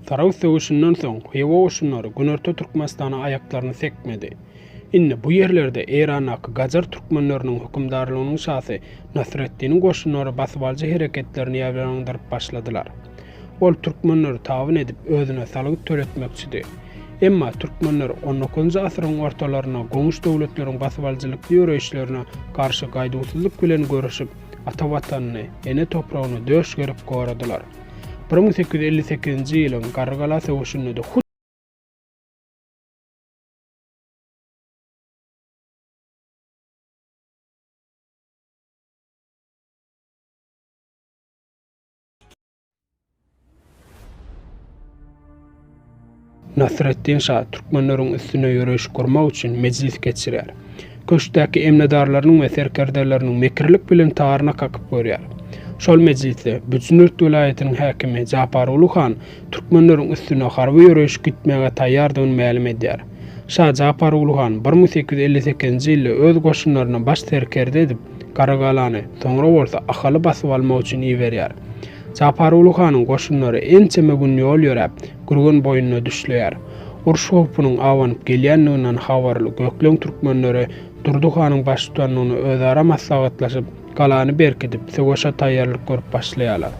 Tarag söweşinden soň Hywa goşunlary günorta Türkmenistana aýaklaryny sekmedi. Indi bu ýerlerde Eýrandaky gajar türkmenleriniň hökümdarlygynyň şasy Nasreddiniň goşunlary basybalyjy hereketlerini ýaýbaňlandyryp başladylar. Ol türkmenleri tabyn edip, özüne salgyt töletmekçidi. Emma türkmenler on dokuzynjy asyryň ortalarynda goňşy döwletleriň basybalyjylykly ýöreýişlerine garşy gaýduwsyzlyk bilen göreşip, ata Watanyny, ene topragyny döş gerip goradylar. Bir müň sekiz ýüz elli sekizinji ýylyň Garrygala söweşinde-de hut. Nasreddin şa türkmenleriň üstüne ýöreýiş gurmak üçin mejlis geçirýär. Köşkdäki emnedarlarynyň we serkerdeleriniň mekirlik bilen taryna kakyp görýär. Şol mejlisde Büjnürt welaýatynyň häkimi Japaruly han türkmenleriň üstüne harby ýöreýiş gütmäge taýýardygyny mälim edýär. Şa Japar Uly han bir müň sekiz ýüz elli sekizinji ýylda öz goşunlaryny baş serkerde edip, Garagalany, soňra bolsa Ahaly basyp almak üçin iberýär. Japar Uly hanyň goşunlary ençeme gün ýol ýöräp, Gürgen boýnuna düşleýär. Uruş howpunyň abanyp gelýändiginden habarly Gökleň türkmenleri Durdy hanyň baştutanlygynda özara maslahatlaşyp, galany berkidip, söweşe taýýarlyk görüp başlaýarlar.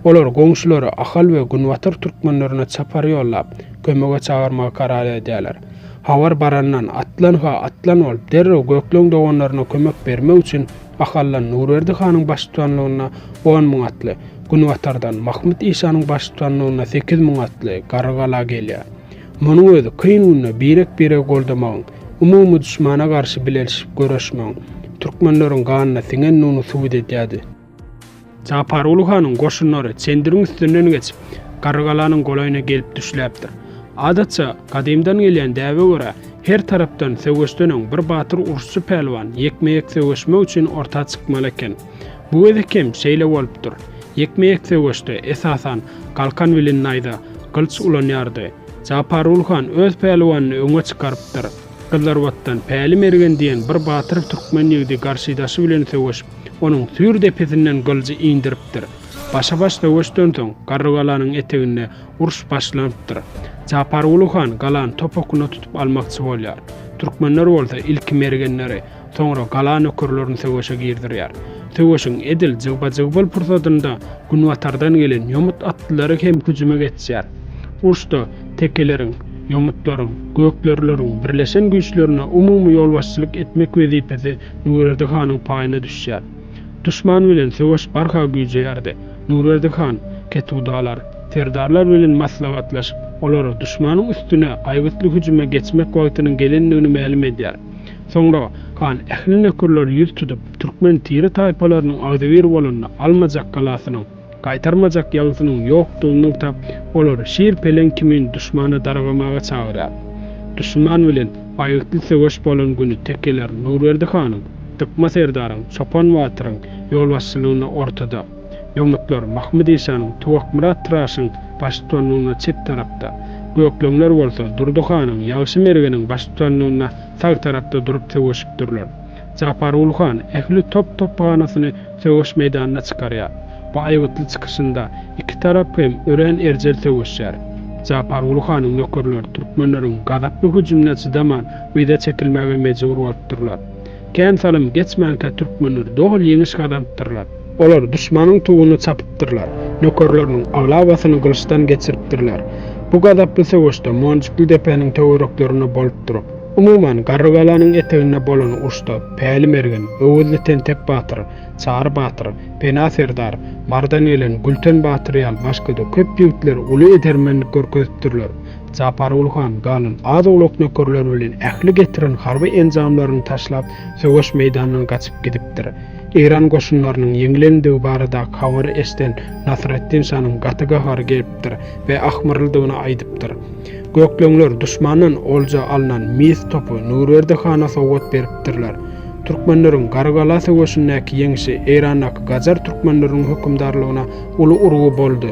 Olar goňşulary Ahal we Günbatar türkmenlerine çapar ýollap, kömege çagyrmagy karar edýärler. Habar barandan, Atlan-ha, atlan bolup, derrew Gökleň doganlaryna kömek bermek üçin Ahaldan Nurberdi hanyň baştutanlygynda on müň atly, Günbatardan Mahmyt işanyň baştutanlygynda sekiz müň atly garry gala gelýär. Munuň özi kyn günde birek-biregi goldamagyň, umumy duşmana garşy bilelşip göreşmegiň türkmenleriň ganyna siňendigini subut edýärdi. Japar Uly hanyň goşunlary çendiriň üstünden geçip, Garrygalanyň golaýyna gelip düşläpdir. Adatça, gadymdan gelýän däbe görä, her tarapdan söweşden öň bir batyr uruşçy pälwan ýekme-ýek söweşmek üçin orta çykmaly eken. Bu gezek hem şeýle bolupdyr. Ýekme-ýek söweşde, esasan, galkan bilen naýza, gylyç ulanýardy. Japargul han öz pälwanyny öňe çykarypdyr. Gyzlarbatdan Päli Mergen diýen bir batyr türkmen ýigdi garşydaşy bilen söweşip, onuň süýr depesinden gylyjy indiripdir. Başa-baş söweşden soň, Garrygalanyň eteginde uruş başlanypdyr. Japargul han galany topugyna tutup almakçy bolýar. Türkmenler bolsa ilki mergenleri, Soňra gala nökerlerini söweşe girdirýär. Söweşiň edil jygba-jygbal pursadynda günbatardan gelen ýomut atlylary hem hüjüme geçýär. Uruşda tekeleriň, ýomutlaryň, gökderileriň birleşen güýçlerine umumy ýolbaşçylyk etmek wezipesi Nurberdi hanyň paýyna düşýär. Duşman bilen söweş barha güýjeýärdi. Nurberdi han ketudalar, serdarlar bilen maslahatlaşyp, olara duşmanyň üstüne aýgytly hüjüme geçmek wagtynyň gelendigini mälim edýär. Soňra han ähli nökerleri ýüz tutup, türkmen tire-taýpalarynyň agzybir bolanyny, almajak galasynyň, gaýtarmajak ýagysynyň ýokdugyny nygtap, olary şir-peleň kimin duşmana dargamaga çagyrýar. Duşman bilen aýgytly söweş bolan güni tekeler Nurberdi hanyň, Dykma serdaryň, Çopan batyryň ýolbaşçylygynda ortada. Ýomutlar Mahmyt işanyň, Tuwakmyrat Tyraşyň baştutanlygynda çep tarapda, Gökleňler bolsa Durdy hanyň, Ýagşy Mergeniň baştutanlygynda sag tarapda durup söweşipdirler. Japarguly han ähli top-topbanasyny söweş meýdanyna çykarýar. Bu aýgytly çykyşynda iki tarap hem örän erjel söweşýär. Japarguly hanyň nökerleri türkmenleriň gazaply hüjümine çydaman yza çekilmäge mejbur bolupdyrlar. Kän salym geçmänkä türkmenler doly ýeňiş gazanypdyrlar. Olar duşmanyň tuguny çapypdyrlar, nökerleriniň aglabasyny gylyçdan geçiripdirler. Bu gazaply söweşde Monjukly depäniň töwereklerinde bolup durup, umuman, Garrygalanyň eteginde bolan uruşda Päli mergen, Öwezli tentek batyr, Çary batyr, Pena serdar, Mardan gelen Gülten batyr ýaly başga-da köp ýigitler uly edermenlik görkezipdirler. Japargul han galan az-owlak nökerleri bilen ähli getiren harby enjamlaryny taşlap, söweş meýdanyndan gaçyp gidipdir. Eýran goşunlarynyň ýeňlendigi baradaky habary eşden Nasreddin şanyň gaty gahary gelipdir we ahmyrlydygyny aýdypdyr. Gökleňler duşmandan olja alnan mis topy Nurberdi hana sowgat beripdirler. Türkmenleriň Garygala söweşindäki ýeňşi Eýrandaky gajar türkmenleriniň hökümdarlygyna uly urgy boldy.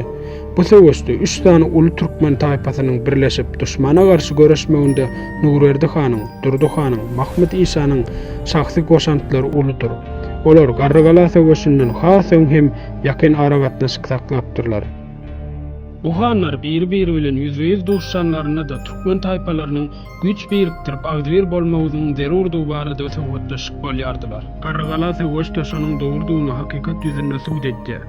Bu söweşde üç sany uly türkmen taýpasynyň birleşip, duşmana garşy göreşmeginde Nurberdi hanyň, Durdy hanyň, Mahmyt işanyň şahsy goşantlary uludyr. Olar Garrygala söweşinden has öň hem ýakyn aragatnaşyk saklapdyrlar. Bu hanlar biri-biri bilen ýüzbe-ýüz duşanlarynda-da türkmen taýpalarynyň güýç birikdirip, agzybir bolmagyzynyň zerurdygy barada söhbetleşip bolýardylar. Garrygala söweşde şonuň dogrudygyny hakykat ýüzünde subut edýär.